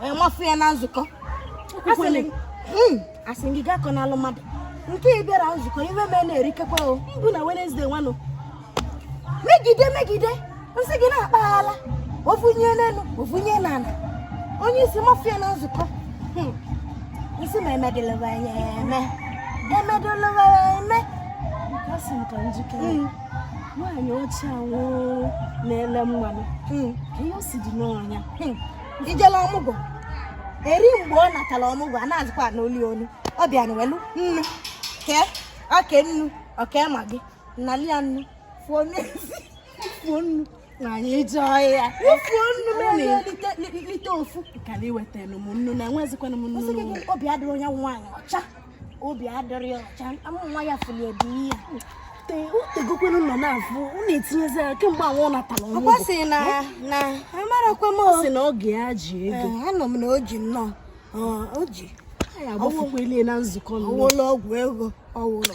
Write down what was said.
wee mafụ ya na nzukọ hmm, asị gị gaa kọ n'alụ mmadụ nke ị bịara nzukọ iwe mee na-erikekwa o mbụ na Wenezdee nwanụ megide megide nsị gị na-akpaghala ovunye n'elu ovunye n'ala onye isi mafụ ya na nzukọ hmm, nsị ma emedịlịwa ya eme emedịlịwa ya eme asị m ka njikọ hmm. nwaanyị ọcha nwụrụ na-ele mmanụ hmm. ka ihe o si dị n'ọnya ijele ọmụgwọ eri mgbe ọ natara ọmụgwọ a na-azụkwa n'oli onu ọ bịa na welu nnu kee oke nnu oke ma gị nali ya nnu fuo n'ezi fuo nnu na anyị jee ọhịa fuo nnu lite ofu ka na iwetara m nnu na enwezikwana m nnu obi adịrị onye nwaanyị ọcha obi adịrị ọcha nwa ya fụli ebe ihe utegokwenu nọ na-afụ ọ na-etinyezi ya kemgbe anwụ natara ọmụgwọ ọ sị na na amarakwa m ọ sị na oge ya ji ego anọ m na o ji nnọọ o ji ya agbafukwele na nzukọ ọwụlọ ọgwụ ego ọwụlọ